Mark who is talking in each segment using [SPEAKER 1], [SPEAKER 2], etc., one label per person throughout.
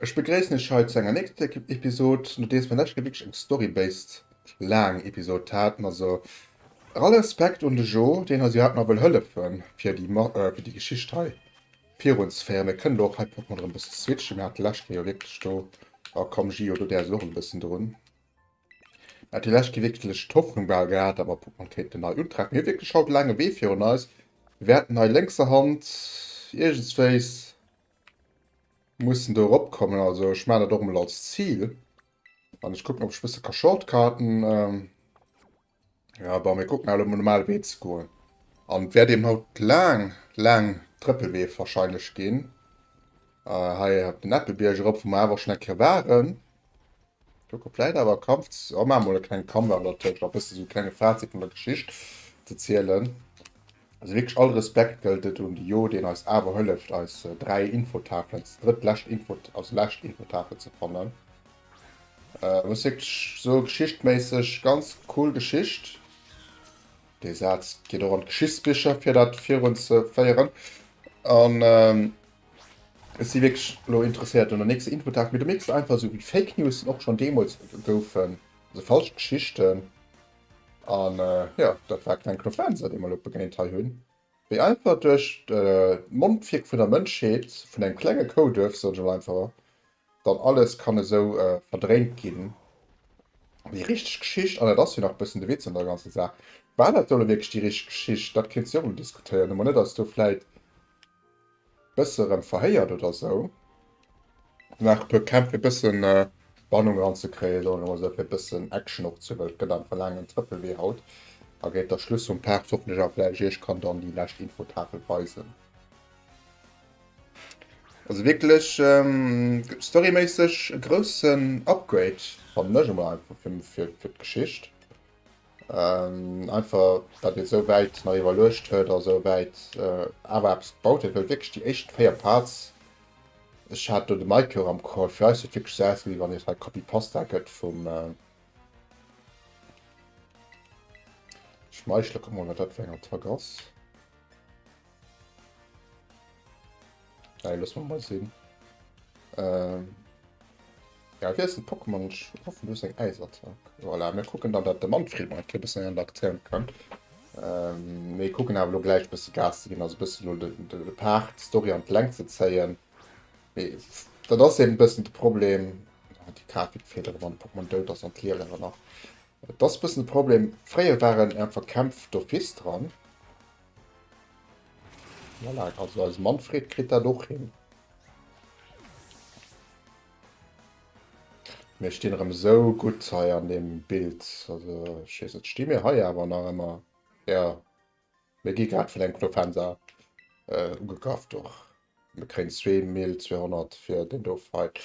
[SPEAKER 1] Ech begréissen iech hei zu enger nächster Episod, nodeems mer lescht Kéier wierklech eng story-based laang Episod haten. Also all Respekt un de Jo, deen eis jo hat ma wëll hëllefen, fir déi Geschicht hei Virun ze féieren. Mir kënnen do och hei proppen erëm e bëssen ze switchen. Mir hate leschte Kéier jo wierklech do, a komm Gio, do däers du och e bëssen drun. Mir hate lescht Kéier wierklech d'Hoffnung bal gehat, awer putt mer kéinten nei untraagen. Mir hu wierklech haut e laange Wee virun eis. Mir wäerten hei lénkser Hand iergendswéis mussen do eropkommen. Also ech maachen dat och emol als Zil an ech kucken, ob ech e bësse ka shortcutten. Ja, bon, mir kucken awer um normale Wee ze goen. An et wäert eben haut laang, laang Trëppelwee wahrscheinlech ginn. Äh, hei op den Eppebierg erop, wou mer awer schon eng Kéier waren. Kucke vläit awer e Kampf, oh, maache mol e klenge Comeback, oder tëscht a bësse sou klenge Fazit vun der Geschicht ze zielen. Also wierklech all Respekt gëllt et un de Jo, deen eis awer hëlleft eis 3 Infotafelen, als drëtt lescht Info, als lescht Infotafel ze fannen. Äh, muss wierklech so geschichtméisseg ganz cool Geschicht. Dee Saz geet och an d'Geschichtsbicher fir dat virun ze féieren. An ähm, ech si wierklech lo interesséiert un der nächster Infotafel. Mir du mierks einfach esou wéi Fake Newsen och schon deemools goufen, also falsch Geschichten. An jo, dat war kleng Knoflaunsert eemol op begéint hei hunn wéi einfach duerch de Mondwierk vun der Mënschheet, vun engem klenge Kouduerf soen ech emol einfach, dann alles kann esou verdréint ginn. Déi richteg Geschicht, an et ass jo nach e bëssen de Witz an der ganzer Saach, war dat elo wierklech déi richteg Geschicht, dat kéint se jo emol diskutéieren, ob mer net eis do vläit Bësse rem verhéiert oder sou. Nach e puer Kämpf fir bëssen Spannung ran ze kréien, soen ech mol sou, fir bëssen Action och ze wëll. Gëtt einfach laang en Trëppel wéi haut a géint der Schluss vum Part hoffen ech einfach dat ech iech kann dann déi lescht Infotafel weisen. Also wierklech storyméisseg e groussen Upgrade fannen ech emol einfach fir d'Geschicht. Einfach datt een esou wäit nach iwwerluecht huet a esou wäit awer eppes gebaut huet, well wierklech déi éischt 4 Parts, ech hat do de Maike och am Call, fir eis huet wierklech esou ausgesinn, wéi wann et hei Copy-Pasta gëtt vum, schmeichele, kucke mol wat dat fir eng Attack ass. Hey, lass mal mal sehen. Ähm, ja, wie ist ein Pokémon? Ich hoffe, du hast eine Eisattack. Voilà, wir gucken dann, dass der Manfred mal ein bisschen in der Aktion kann. Ähm, wir gucken aber nur gleich ein bisschen Gas zu gehen, also ein bisschen nur den, den Part, die Story an die Länge zu ziehen. Das ist eben ein bisschen das Problem. Ah, die Karte wird fehlen, wenn Pokémon dort das und Lehrer noch. Das ist ein bisschen das Problem. Früher waren einfach Kämpfe d'Office dran. Voilà, also eise Manfred kritt dat och hin. Mir stinn erëm esou gutt hei an dem Bild. Also ech weess net, sti mir hei awer nach ëmmer? Jo. Mir gi grad vun engem Clofenser äh, ugegraff do. Mir kréien 2200 fir den do Fight.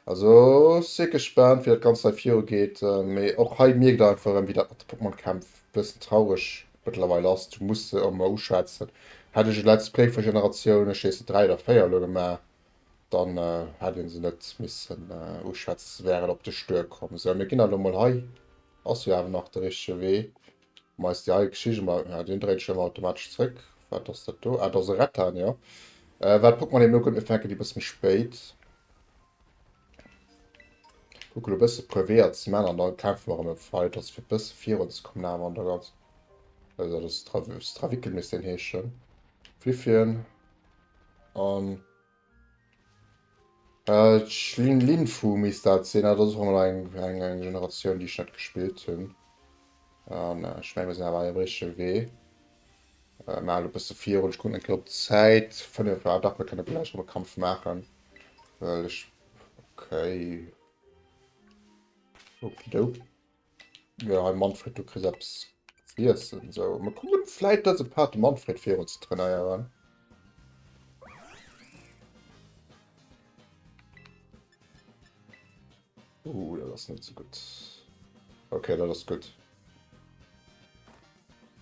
[SPEAKER 1] Also si gespaant wéi dat Ganzt hei viru geet. Mee och hei mierkt der einfach erëm wéi dat mat de Pokémon Kämpf e bëssen traureg mëttlerweil ass. Du muss se ëmmer uschwätzen. Hätt ech e Let's Play vun Generatioun, ech heessen 3 oder 4 elo gemaach, dann hätt ee se net missen uschwätzen, se wären op de Stuer komm. Sou, mir ginn der elo mol. Hei ass jo awer nach de richtege Wee. Mä ist ja eig Schicht emmer, ja deen dréit ech emmer automatesch zréck, wat ass dat do? Ah dat ass e Rettan jo, well Pokémon eben nokommt, mir fänken déi bëss méi spéit. Kucke lo bësse puer Weeër ze man an da kafe mer erëm e weiders fir bësse virun ze kommen awer an der ganz also dat ass Stravickel misst deen heeschen, Fliffien an. D'Lin Linfu misst dat sinn. Dat ass och emol eng eng eng Generatioun, déi ech net gespillt hunn. An ech menge mir sinn awer am richtege Wee. Äh, Mer halen e bësse virun. Ech kucken eng Kéier op d'Zäit. Fënnef, ah dach, mir kënne vläicht nach e Kampf maachen. Well ech, okay, okidoki. Ja, hey Manfred, du kriss eppes z'iessen, so. Mir kommen vläit dëse Part de Manfred virun ze trainéieren. Uh, dat ass net so gutt. Okay, dat ass gutt.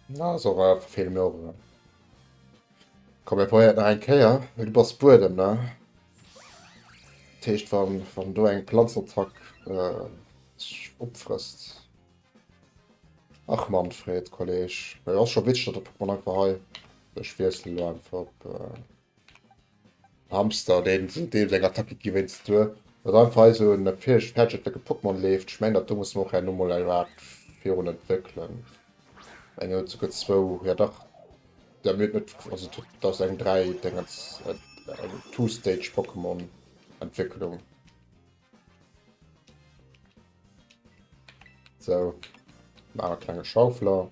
[SPEAKER 1] Na, so war verfehle mir och erëm. Komm, mir probéieren et nach eng Kéier. Du bass Buedem, ne? Dat heescht, wann, wann do eng Planzenattack sech opfrësst. Ach Manfred, Kolleg. Jo, ass scho witzeg, datt de Pokémon einfach hei. Ech wiessele lo einfach op. Hamster deen sou deels eng Attack kritt wéinst du datt einfach hei sou en fäheg fäertchentlecken Pokémon leeft. Ech mengen datt do muss mer och herno mol eppes virun entwéckelen. Mengen huet souguer zwou, jo dach da mir huet net also huet et ass eng dräi Dengens eng two stage Pokémon Entwécklung. Sou, maache klenge Schaufler.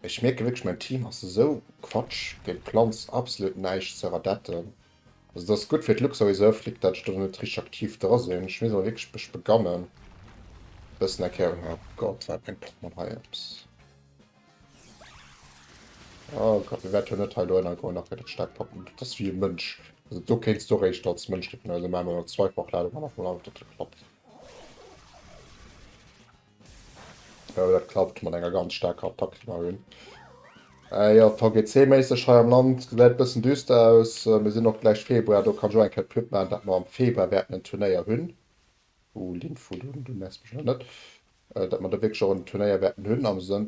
[SPEAKER 1] Ech mierken wierklech mäin Team ass esou quatsch, géint d'Planz absolut näischt ze radetten. Also dass gutt fir d'Luxor Reserve litt dat ech do net richteg aktiv dra sinn, ech misst awer wierklech mech begannen bëssen eng Kéier ëmmer. Gott wat bréngt Pokémon hei eppes? Oh Gott mir wäert jo net hei elo ënner goen, nach gëtt et staark Pokémon, dat ass wéi e Mënsch, also do kéints du eréischt als Mënsch rippen, also maache mer mol Zweifachladung an nach mol an ob dat klappt. Oh, dat klappt mat enger ganz staarker Attack, déi mer hunn. Äh jo, VGC-méisseg hei am Land gesäit bëssen düster aus. Mir sinn och gläich Februar, do kann ech och eng Kéier d'Pub maachen, datt mer am Februar wäerten en Turnéier hunn. Uh, Linfo, du, du nervs mech awer net. Datt mer do wierklech och en Turnéier wäerten hunn am Sënn.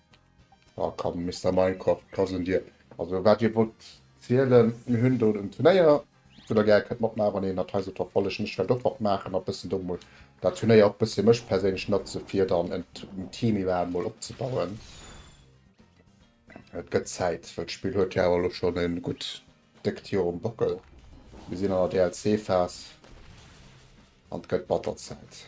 [SPEAKER 1] Ah komm, Mister Minecraft, et ass un dir. Also wat dir wollt zielen, mir hunn do den Turnéier, wou der gär kënnt matmaachen, wann een dat hei sollt verfollegen. Ech wäert och matmaachen a bëssen do mol dat Turnéier och bëssi mech perséinlech natze fir dann en Team iwwerhaapt mol opzebauen. Et gëtt Zäit, well d'Spill huet jo awer lo schonn e gutt déckt Joer um Bockel. Mir sinn an der DLC-Phas an et gëtt batter Zäit.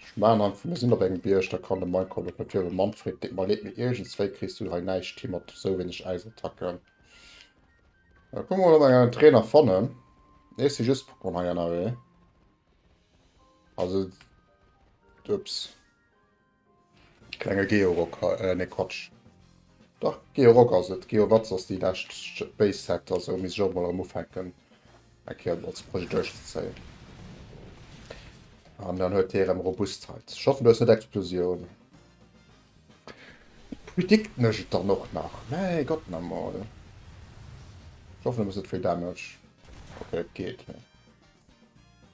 [SPEAKER 1] Ech maachen einfach, mir sinn op engem Bierg, da kann de Minecraft op e Virwëll Manfred, deet mer leed, mee iergendswéi kriss du hei näischt hin mat esou wéineg Äisattacken. Da kucke mer mol, ob mer en Trainer fannen. Nee, et si just Pokémon hei ënnerwee. Also, ups. Klenge Georock, nee Quatsch, dach Georock ass et, Geowatz ass déi lescht Base Set, also misst ech och mol erëm ufänken eng Kéier mol ze Projekt duerchzezéien. An dann huet hie erëm Robustheit, ech hoffen du hues net Explosioun. Predicten ech et dann och nach, mäi Gott na mol, ech hoffen du hues net vill Damage, ok et geet.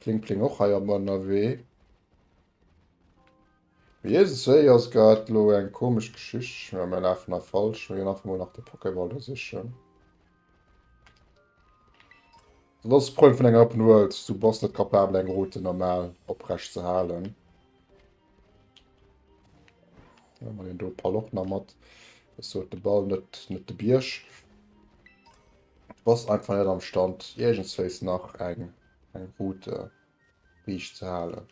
[SPEAKER 1] Pling pling och hei am Ënnerwee. Mee jësses Séi ass grad elo eng komesch Geschicht. Ech mengen mir lafen hei falsch. Mir ginn einfach mol nach de Pokéball do sichen. Dat ass de Problem vun enger Open World, du bass net capabel eng Route normal oprecht ze halen. Huele mer deen do Pall och nach mat. Ech sot de Ball net net de Bierg. Du bass einfach net am Stand iergendswéis nach eng eng Route riicht ze halen.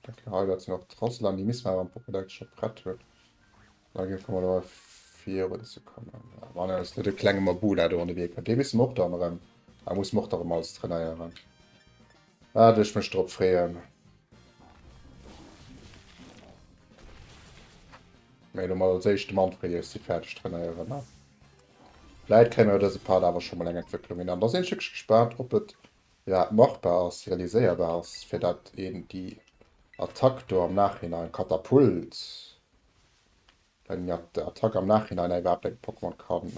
[SPEAKER 1] Hei dat sinn och d'Roslan, déi misst mer awer am Pokédex scho prett hunn. Da géife mer awer virun ze kommen. Wann ass net e klenge Mabula do an de Wee kënnt. Dee misst mer och dann erëm. Da muss mer och da erëm alles trainéieren. Waat ech mech drop freeën. Mee elo mol als éischt de Manfred, eer ech si fäerdeg trainéieren, ne? Vläit kréie mer iwwer dëse Part awer scho mol eng Entwécklung hin. An da sinn ech wierklech gespaant, ob et iwwerhaapt machbar ass, realiséierbar ass, fir dat een déi Attack do am Nachhinein, Katapult, eng Attack am Nachhinein iwwerhaapt engem Pokémon kann,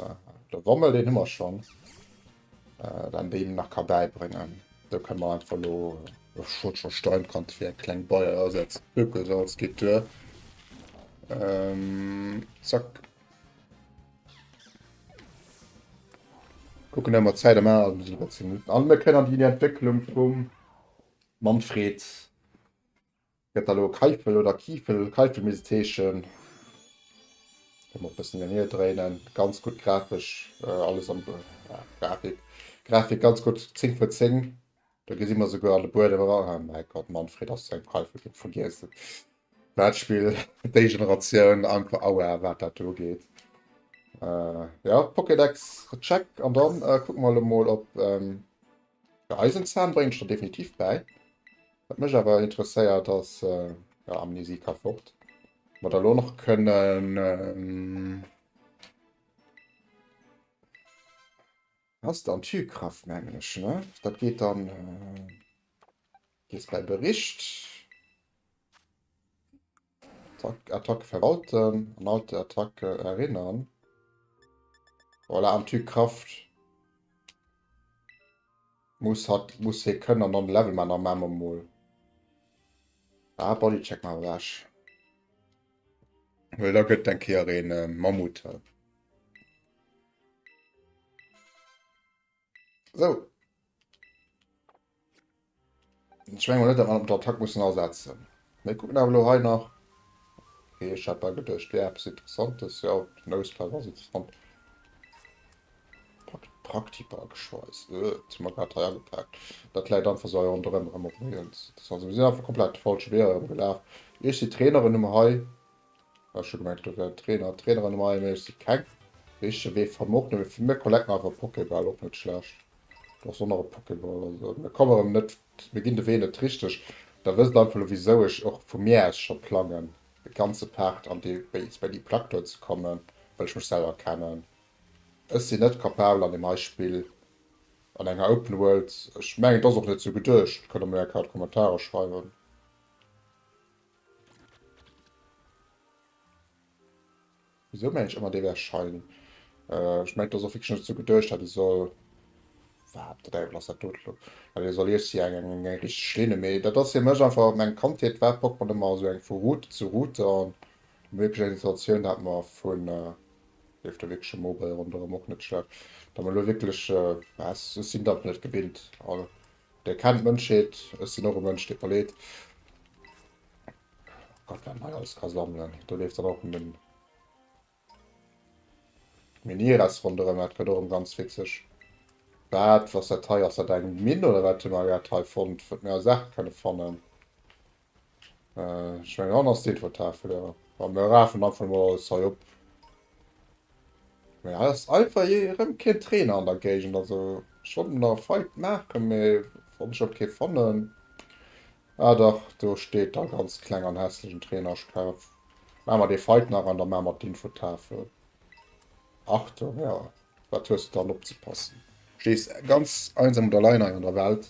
[SPEAKER 1] de Wommel, deen hu mer schonn, dat een deem nach ka bäibréngen. Do kënne mer einfach elo, ech wollt scho Stein Kante fir eng kleng Beier ersetzen, Ökosalz geet duer, zack. Kucken emmer Zäit am Aal bis iwwer 10 Minuten an. Mir kënnen déi Entwécklung vum Manfred gëtt da lo Keifel oder Kiefel, Keifel misst et heeschen. Kënnen mer e bëssen hierhin dréinen. Ganz gutt grafesch alles am Grafik, Grafik ganz gutt 10 vun 10. Do gesi mer souguer an de Buedem era. Ah, mäi Gott, Manfred ass zu engem Präifel ginn. Vergiesst et. Dat Spill, déi Generatioun, einfach aua, wat dat do ugeet. Äh, ja, Pokédex, check. An dann äh, kucke mer elo mol, ob. Ähm, ja, Eisenzahn bréngt ech der definitiv bäi. Wat mech awer interesséiert, ass. Äh, ja, Amnesie ka fort. Wat da lo nach kënnen. Ähm, Hast de Antikraft mengen ech ne? Dat geet dann gees bei Bericht Attack Attack verwalten an alte Attacke erinnern. Voilà, Antikraft muss hat muss hie kënnen an non Level man am Mamme mol. Ah, Bodycheck mal weg. Well da gëtt eng Kéier een Mammut. So. Ich meine, nicht daran, ob der Attack müssen ersetzen. Wir gucken aber nur hier nach. Okay, ich habe gedacht, der etwas Interessantes. Ja, die Noseplug war interessant. Praktiker geschweißt. Äh, das haben wir gerade hier angepackt. Das leider einfach so und darum haben wir uns. Das also, wir sind einfach komplett falsch Wehr gelaufen. Ich die Trainerin um Hai. Ech schon gemengt do wären Trainer an Traineren am AME, ech si keng. Richtege Wee fannen mer och net, mee vun mir collecten einfach Pokéball, och net schlecht. Doch ech honnere Pokéball, also mir kommen erëm net, mir ginn de Wee net richteg. Da wësst der einfach elo wisou ech och vu mir aus scho plangen e ganze Part an dee Base, bei déi Plack do ze kommen, well ech mech selwer kennen. Ech sinn net capabel an deem hei Spill, an enger Open World, ech mengen et ass och net sou geduecht, kënnt der mol eng Kéier an d'Kommentarer schreiwen. Wieso mengen ech ëmmer dee wär Schein? Ech mengen dass och wierklech net esou geduecht hat, e soll wat de Däiwel ass dat dote lo? Wat ee soll iech si eng eng eng richteg Linne, mee dat ass fir mech einfach an meng Kandheet war Pokémon ëmmer esou eng vu Route zu Route an ëmmer wierklech eng Situatioun dat mer vun leeft do wierklech e Mobile ronderëm och net schlëmm, dat mer elo wierklech, ech sinn dat net gewinnt a Dei kennt d'Mënschheet, ech sinn och e Mënsch dee verleet. Oh Gott, wat een hei alles ka sammelen. Do leeft dann och en den Minières ronderëm, dat gëtt och em ganz witzeg. Wat, was dat hei, ass dat eng Minn oder wat hu mer grad hei fonnt, wat mir als Art kënne fannen? Äh, ech meng han ass deet wat d'Haart vun der. Wa mir rafen einfach mol alles hei op. Mee ass einfach je erëm keen Trainer an der Géigend, also ech wollt mer nach e Fight maachen, mee wann ech och kee fannen. Ah dach, do steet da ganz kleng an hässlech en Trainer, ech kaf maache mer dee Fight nach an da maache mer d'Infotafel. Achtung, ja, wat hues de dann opzepassen? Stees ganz einsam und allein hei an der Welt.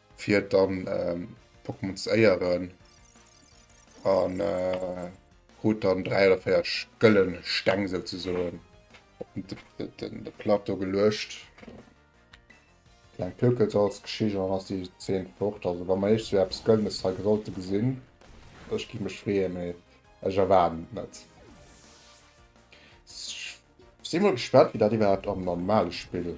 [SPEAKER 1] fir dann ähm, Pokémon ze éieren an äh, krut dann 3 oder 4 gëllen Steng souzesoen op den, den, den, den Plateau geluecht. Klein Pökels als Geschicht an ass die 10 fort. Also wann man echt so etwas Gëllenes hei sollte gesinn, ech gi mech freeën, mee ech erwaarden net. Ich si mal gespannt, wie dat iwwerhaupt am normale Spiel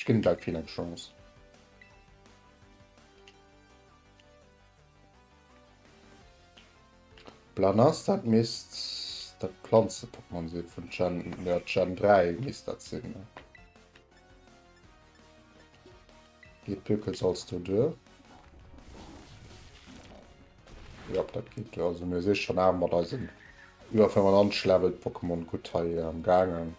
[SPEAKER 1] Ech gin der keen eng Chance. Blanas, dat misst dat Planze-Pokémon si vun Gen, jo Gen 3 misst dat sin. Geet d'Pökel Salz do duer? Jop, dat geet duer. Also mir si schon awer mat eisen iwwer 95 Level Pokémon gutt hei am gaangen.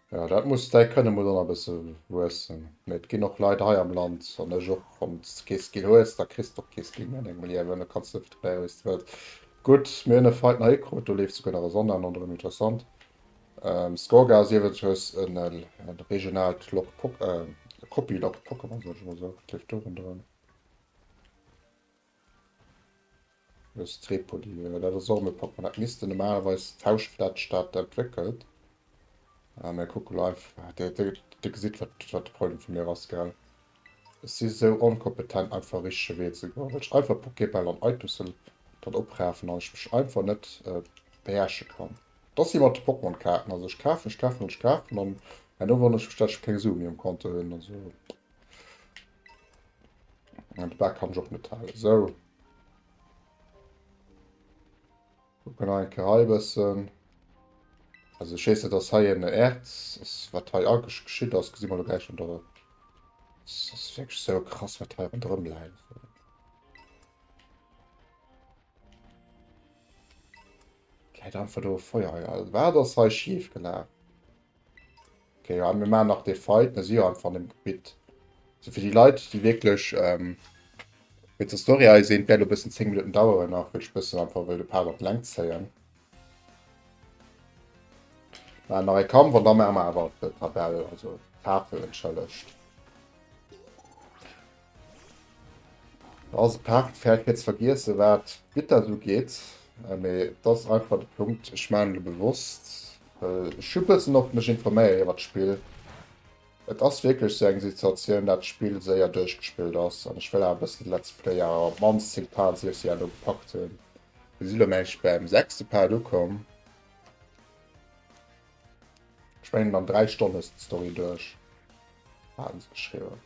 [SPEAKER 1] Ja, dat muss däi kënne muss an e bësse wuessen. Mee et ginn och Leit hei am Land an ech och. Wann s de kee Skill hues, da kriss de och kee Skill méi an dengem Liewen. Da kanns de fréier wéi s de wëlls. Gutt, mir hunn e Fight nach ekrut, do leeft souguer nach e Sonnenhemd an, erëm interessant. Ähm, Skorga ass iewesechs e regionaalt Lok Pok, äh, Copy-Lok Pokémon, soll ech emol soen. Wat leeft do rondrëm? Aus Tripoli, jo dat ass och mei propper. Dat misste normalerweis d'Hausstaat entwéckelt, mä kucke lo einfach. Dir gesitt wat de Problem vu mir ass gell. Ech si sou onkompetent einfach richtege Wee ze goen, well ech einfach Pokébäll an Aitussen dann oprafen an ech mech einfach net beherrsche kann. Dat ass wéi mat de Pokémon Kaarten, also ech kafen, ech kafen an ech kafen an herno wonnere ech mech dat ech keng Sue méi um Konto hunn, also. An de Bak kann ech och net halen. Esou. Kucken nach eng Kéier hei e bëssen. Also ech weess net, dass hei en Erz ass, wat hei agesch geschitt ass. Gesi mer elo gläich an der. S ass wierklech esou krass, wat hei ronderëm läit. Läit einfach do e Feuer. Wat ass hei schief gelaf? Okay, ja, wir machen nach den Fight. Wir sind ja einfach im Gebiet. Also für die Leute, die wirklich ähm, mit der Story ein sind, werden ein bisschen 10 Minuten dauern, auch weil ich ein bisschen einfach will, ein paar Leute lang ziehen. Dann noch ein Kampf und dann machen wir aber die Tabelle, also Tafel entschuldigt. Also Part fährt kurz vergiessen wat Gitter so geet, mee das einfach de Punkt ech man lo bewosst schubessen op mech informéier iwwer d'Spill. Et ass wierklech sou eng Situatioun dat d'Spill séier duerchgespillt ass an ech wëll awer bëssen Let's Player a op mannst 10 Part sief se ja lo gepackt hunn. Mir si lo mengen ech beim sechste Part ukomm. Ech mengen an 3 Stonn hues d'Story duerch, haten se geschriwwen.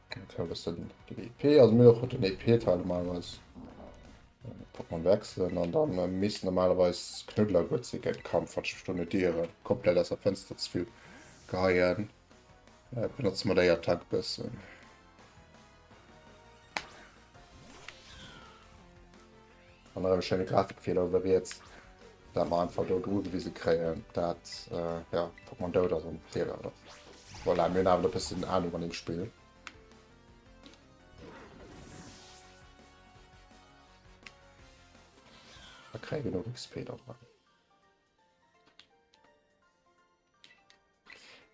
[SPEAKER 1] EP e also mir den EP teile malweis man wechseln an dann äh, miss normalerweis knudler gut ze gen kampf wat stunde diere komplett aus der fenster zu viel geheien äh, benutzt man der attack bessen An erëm e schéine Grafikfeeler uewe riets, dat mer einfach do ugewise kréien, dat jo Pokémon dout ass am Trailer oder voilà, mir hunn awer e bëssen Ahnung an dem Spill. Da kréie mir genug XP dran.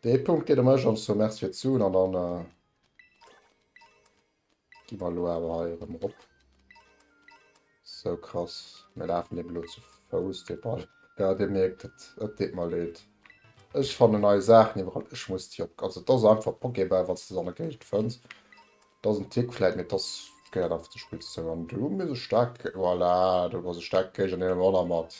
[SPEAKER 1] Dee Punkt geet em ech an so Merci fir d'Suen an dann äh, Gi mer elo awer hei erëm erop. Sou krass, mir lafen eben elo zu Fouss dee Ball. Jo, Dir mierkt et, et deet mer leed. Ech fanne nei Saachen iwwerall, ech muss déi op. Also et ass einfach Pokéball, wann s de se an der Géigend fënns. Et ass en Tick vläit, mee et ass, gehéiert einfach zur Spillsesou. An do hu mir se staark, voilà, do hu mer se staark gekriegt an deem Runner mat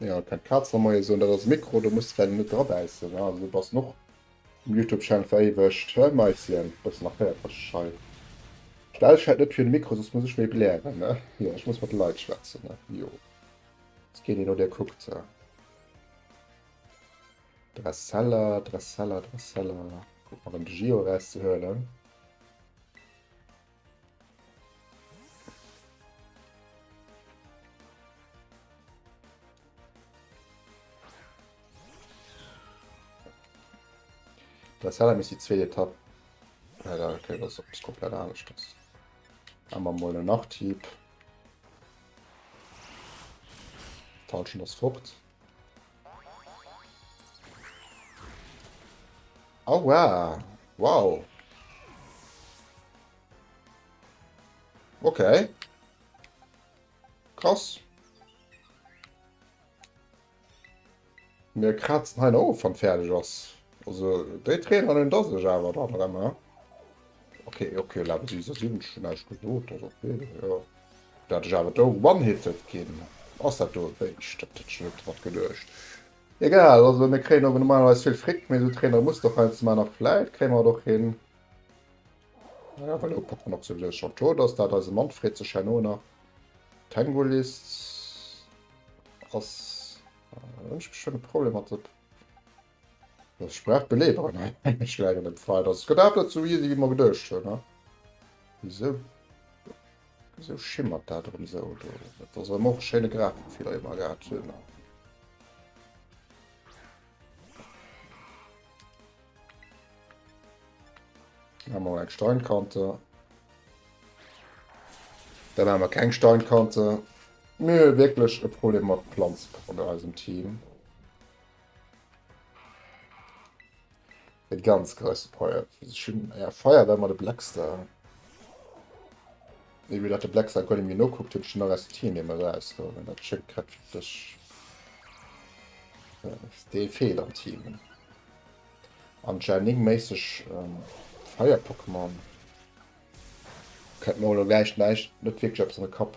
[SPEAKER 1] Ja, kann Katz am Moie soen, dat ass Mikro, do muss well net drabäissen, ne? Also, du bass noch um YouTube-Channel veréiwegt, he Maischen? Bëssen nach héiert wech schei. Stell dech halt net fir de Mikro, soss muss ech méi blären, ne? Jo, ech muss mat de Leit schwätzen, ne? Jo. Ass keen, deen no dir kuckt, he? Dressella, Dressella, Dressella. Kuck mol, ëm de Gio erauszehuelen. Das hat mich die zweite Etappe. Ja, da okay, das ist komplett anders. Das haben wir mal einen Nachtieb. Tauschen das fort. Oh wow. Wow. Okay. Krass. Mir kratzen hei noch of, wann fertig ass. Also déi Trainer hunn da sech awer da dran, ne? Okay, okay, lawe si se sinn schon näischt gesot, dat okay, jo. Dat ech awer do one-hitted ginn. Ass dat do eréischt? Dat hätt ech net dra geduecht. Egal, also mir kréien awer normalerweis vill Fritt, mee esou Trainere muss der heiansdo man a vläit kréie mer et och hin. Naja, well elo packt mer nach souwisou schon d'Tor, dass dat eise Manfred sech herno nach d'Tangolist ass. Ech hu schonn e Problem mat der. Das Sprach belehren. Ech leieren et frei, dass gëtt dat net sou easy wéi mer geduecht hunn. Ne? Wieso? Wieso schimmert dat rem sou do? Dat ass rem och e schéine Grafenfeeler dee mer gehat hunn. Ne? Dann haben wir eine Steinkante. Dann haben wir keine Steinkante. Nö, wirklich ein Problem mit Pflanzen in unserem Team. Et ganz gräste Feier. Ja, Feier war mal de Blackstar. Wie mir dat de Blackstar gar nicht mehr nachguckt, hat schon noch aus Tier nicht mehr raus. So, wenn das schon kräftig. Ja, der fehlt am Team. An Janing mäßig ähm, Feier Pokémon. Kennt man auch gleich nicht, nicht wirklich etwas in den Kopf.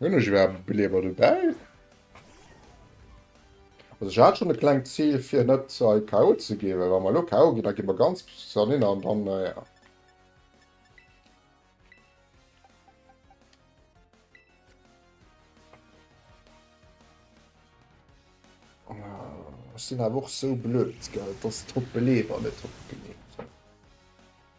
[SPEAKER 1] Hun ech iwwerhaapt Beleeber dobäi? Also ech hat schon e klengt Ziel fir net hei KO ze ginn, well wa mer elo KO ginn, da gi mer ganz zerninnert an dann äh, ja. Ech sinn awer och sou blöd, gell, dass d'Beleeber net opgeleewen.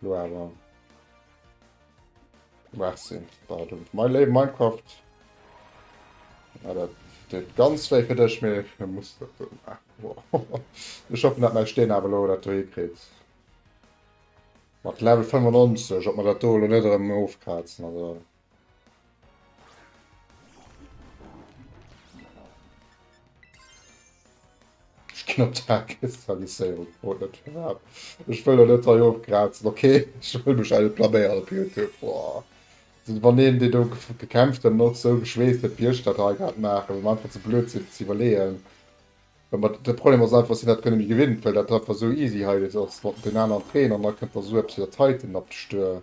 [SPEAKER 1] Lo awer. Merci. Pardon. Mein Leben Minecraft. Ja, das steht ganz weh für dich, mir muss das so machen. Wow. Ich hoffe, dass mein Stehen aber lo, das du hinkriegt. Mit Level 95, ob man das da nicht aufkratzen, also. Knopfdrückkristallisierung oh, das war. Ich will nicht da hochkratzen, okay? Ich will mich eine Plamäre auf YouTube. Boah. Also, wenn den, den da gekämpft hat, noch so geschwäst hat, wie ich das hier gerade mache, um einfach zu blöd sind, zu überlegen. Aber der Problem ist einfach, dass ich das gar nicht mehr gewinnt, weil das einfach so easy hier ist, den anderen Trainer, und dann kommt da so etwas wie der Titan ab der Stör.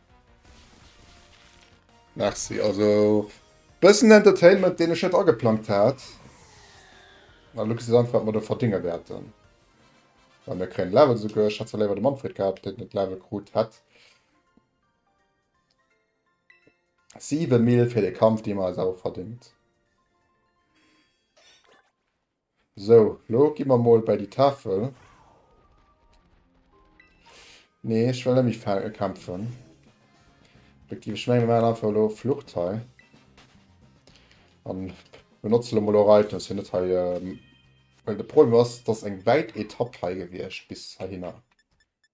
[SPEAKER 1] Merci, also bëssen Entertainment, deen ech net ageplangt hat. An du kriss einfach, wat mer do verdénge wäerten. Well mir kréien Level esouguer. Ech hätt zwar léiwer de Manfred gehat, deen et Level krut hätt. 7 Mil fir de Kampf, dee mer eis awer verdéngt. Sou, lo gi mer mol bäi déi Tafel. Nee, ech wëll net méi fä kämpfen. Effektiv, ech mengen, mir maachen einfach elo Flucht hei. An benotze lo mol och Items fir net hei... Well de Problem ass, et ass eng wäit Etapp hei gewiescht bis heihinner.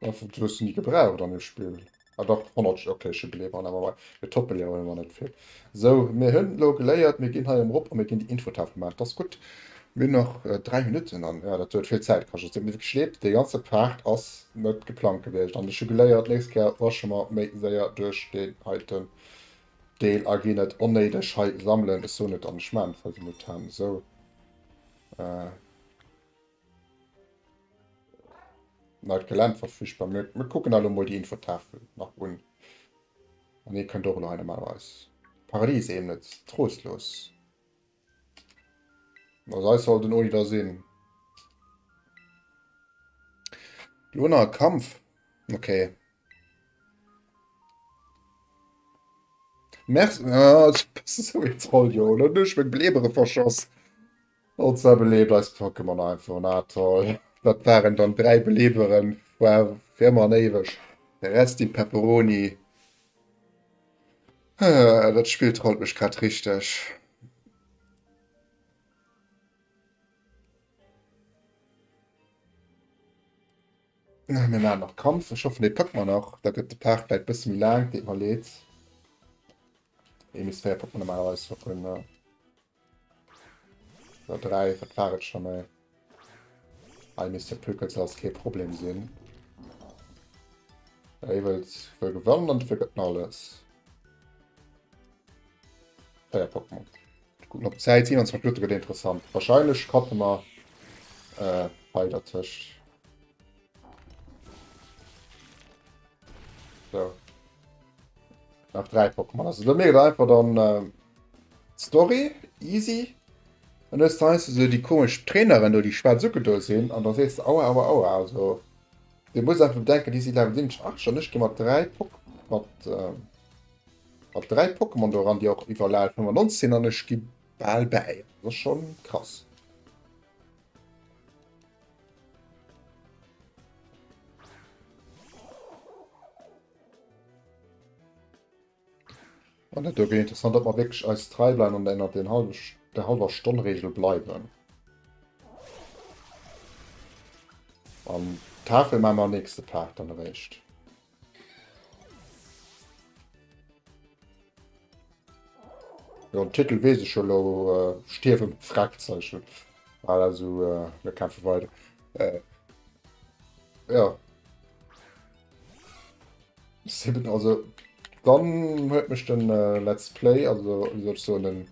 [SPEAKER 1] Ech hun se ni gebraucht an dem Spill. Ah dach, 100, ok ech hu gleewen an MMI, mee Toppe léiere mer net vill. Sou, mir hun elo geléiert, mir gin hei erop a mir gin déi Infotafel gemaach, dat ass gutt. Mir hun nach 3 Minutten an jo, dat huet vill Zäit kascht. Et huet mir wierklech leed, dee ganze Part ass net geplangt gewiescht an ech hu geléiert, nächst Kéier wasche mer méi séier duerch deen heiten Deel a gin net onnéideg hei sammelen. Ech soen et an ech maachen et, well se mut han. Sou. Na, d'Gelännt war furchtbar. Mir, mir kucken alle mol déi Infotafel nach un. An ee kënnt och elo hei normalerweis. Paradies eben net. Trostlos. Na, sei soll den Oli da sinn. Lo nach Kampf. Okay. Merci. Ah, das ist so jetzt voll, jo. Lo duerch mein Blebere verschoss. All zwar beleeft eis Pokémon einfach na toll. Dat waren dann 3 Believeren for fir ëmmer an éiweg. Rest in Pepperoni. Dat Spill trollt mech grad richteg. Mir maachen nach Kampf. Ech hoffen dee packt mer nach. Da gëtt de Part vläit e bësse méi laang. Deet mer leed. Ee bis 4 packt mer normalerweis. Oder drei, wat war et schon mal? Ei misst de Pökel ze als kee Problem sinn. Ei wëllt wëll gewannen an dofir gëtt alles. Feier Pokémon. Gucken op Zäit 27 Minuten gëtt interessant. Wahrscheinlech kappe mer äh, bei der Tëscht. So. Nach drei Pokémon. Also dann wäre einfach dann äh, Story, easy. Und das heißt so die komische Trainerin, die schwarz zugeduldet sind, und dann siehst du, aua, aua, aua. Also, du musst einfach denken, die sind Level 7, 8 schon nicht gemacht, drei Pokémon. Mit, äh, mit drei Pokémon daran, die auch über Level 95 sind, und ich gebe bald bei. Das ist schon krass. An dat wäre interessant, ob wir wirklich eis trei bleiwen und ënnert den halben, der halber Stonn-Regel bleiwen. An Tafel machen wir am nächsten Part dann eréischt. Jo den Titel wees ech jo lo äh, stierwen Fragzeichen. Voilà, also äh, mir kämpfen weiter. Äh, ja. Sieben, also dann huet mech den äh, Let's Play, also wie soll ich so den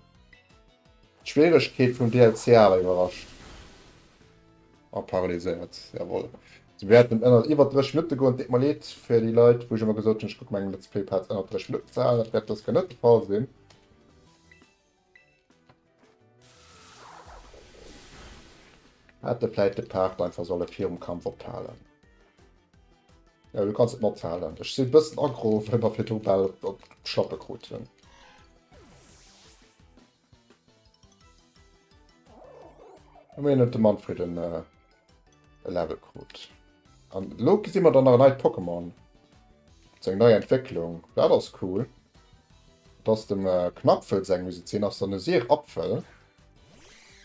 [SPEAKER 1] Schwierigkeit vum DLC awer iwwerrascht. Ah, paralyséiert, jawohl. Si wäerten ënnert iwwer 30 Minutte goen. Et deet mer leed fir déi Leit, wou ech ëmmer gesot hunn, ech kucke meng Let's Play Parts ënnert 30 Minutten ze halen. Dat wäert dës Kéier net de Fall sinn. Hätte vläicht de Part einfach solle virum Kampf ophalen. Ja, du kannst et mat halen. Ech sinn bëssen aggro, well mer fir d'Rubel op d'Schlappe kruten. Ëmmerhin huet de Manfred en äh, e Level krut. An lo gesi mer dann nach en neit Pokémon. Zu eng nei Entwécklung. Dat ass cool. Dat ass dem äh, Knapfel seng muss et sinn. Ass dann e Seerapfel.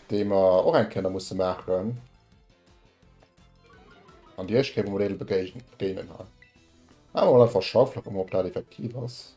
[SPEAKER 1] Dee mer och eng Kéier nach musse maachen. An déi éischt Kéier wou mer dee begéinen ha. Maache mer einfach Schaufler, kucke mer ob dat effektiv ass.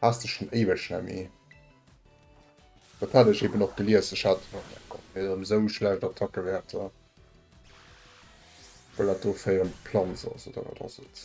[SPEAKER 1] Haas dech schon éiweg Jemmy. Dat hat ech eben och gelies, ech hat och meng Gott mir erem esou schlecht Attackewerter well dat do féieren d'Planz ass oder wat ass et.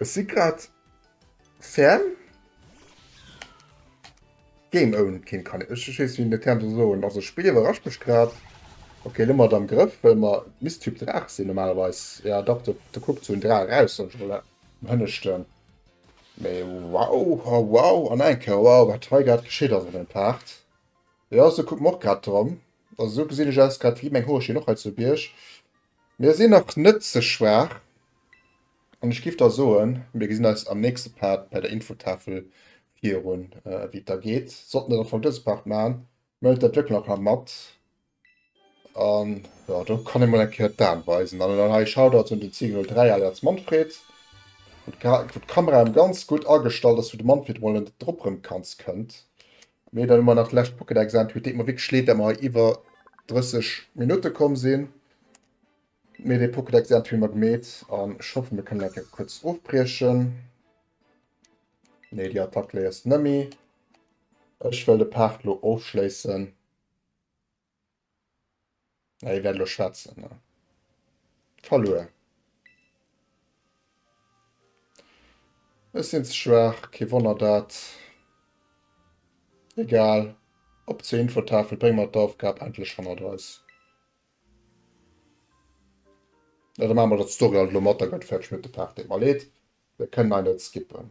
[SPEAKER 1] Ech si grad ferm game own keen kann ech ech wees wien de term soll soen also spill iwwerrascht mech grad okay elo mer et am grëff well mer misst typ draach sinn normalerweis ja dach do do kuckt sou en draach eraus soll ech mol am hënneschten mee wow ha wow an eng kéier wow wat hei grad geschitt ass an dem part jo sou kuckt mer och grad drop also sou gesinn ech aus grad wéi meng hoerchen och hei zu bierg Mir sinn nach net ze schwaach an ech giff da soen, mir gesinn eis am nächste Part bei der Infotafel virun wéi et da geet. Sollten der am Fong dëse Part maachen, mellt der d'Lëcken nach mat an jo do kann ee mol eng Kéier d'Aan weisen. An dann hei Shoutouts un den Ziegel03 alias Manfred, wou d'Kamera erem ganz gutt agestallt ass, wou de Manfred mol en drop rem kanns kënnt. Mee dann hu mer nach d'lescht Pokédex an. Huet deet mer wierklech leed, dat mer hei iwwer 30 Minutte komm sinn. Mee dee Pokédex an hu mer gemeet an ech hoffe mir kënnen eng Kéier kuerz ofbriechen. Nee, déi Attack léiers de nëmme. Ech wëll de Part lo ofschléissen. Hei wäert lo schwätzen ne. Verluer. Ech sinn ze schwaach, kee Wonner dat. Egal, op zur Infotafel, bréng mer d'Aufgab endlech hannert eis. Ja da maache mer dat d'Story alt elo mat, da gëtt et fäerdeg, mir hunn et de Part deemol. Leed, da kënnen hei net skippen.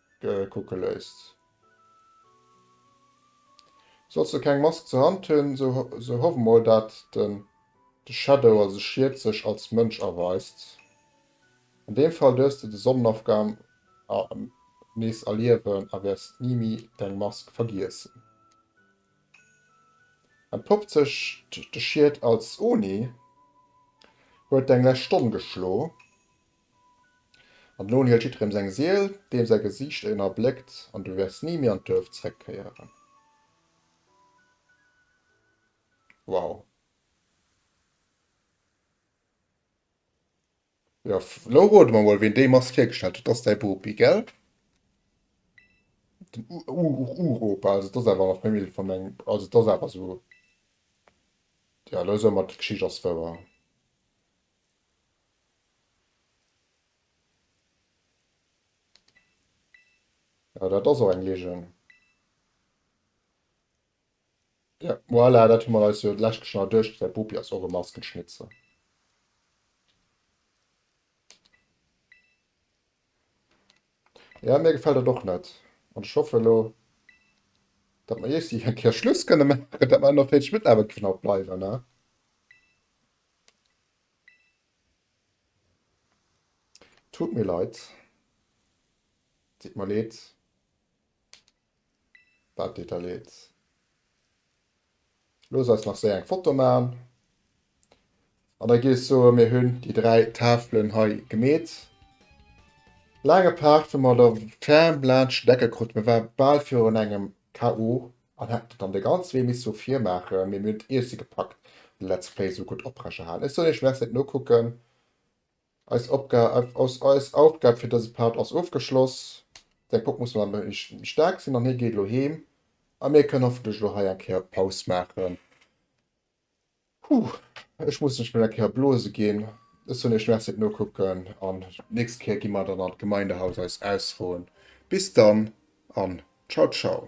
[SPEAKER 1] kucke léisst. Solls de keng Mask zur Hand hunn, sou hoff mol dat den de Shadow, also Schied, sech als Mënsch erweist. An deem Fall duerfs de de Sonnenofgang nees erliewen a wäers ni méi deng Mask vergiessen. Entpoppt sech de Schied als Oni, huet deng lescht Stonn geschlo, An elo hielt jidderem seng Siel, deem säi Gesiicht een erbléckt, an du wäers ni méi an d'Duerf zréckkéieren. Wow. Jo, elo rode mer mol, ween déi Mask hiergestallt huet. Dat ass däi Bopi, gell? Den Uropa, also dat ass awer nach méi midd vun mengem, also dat ass awer esou, jo, elo soe mer d'Geschicht ass wouer. Ja, dat ass och eng Ligen. Ja, voilà, dat hu mer eis jo d'lescht Kech nach duerchgesat. D'Bopi ass och e Maskenschnitzer. Ja, mir gefällt dat och net. An ech hoffe lo, datt mer iech si eng Kéier Schluss kënne maachen, datt mer nach fäerdeg mataarbechten, kënne a bleiwen, ne? Tut mir leid, deet mer leed, wat deet der leed? Looss eis nach séier eng Foto maachen an da giff ech soen, mir hunn déi dräi Tafelen hei gemeet. Laange Paart, wou mer der ferm laanscht d'Ecke kruten, war bal virun engem KO. An hätt et dann de ganze Wee misse sou virmaachen, mee mir hunn et iergsi gepackt de Let's Play sou gutt oprechehalen. Ech soll iech Let's net nokucken. Eis Opgab, eis Aufgab fir dëse Part ass ofgeschloss. Säi Pop muss mat méi staark sinn an hie geet elo heem. A mir kënnen hoffentlech elo hei eng Kéier Paus maachen. Huh, ech muss lech mol eng Kéier blose ginn. Ech soen iech Merci fir d'Nokucken an d'nächst Kéier gi mer dann an d'Gemeindehaus eis ausroen. Bis dann an Ciao Ciao.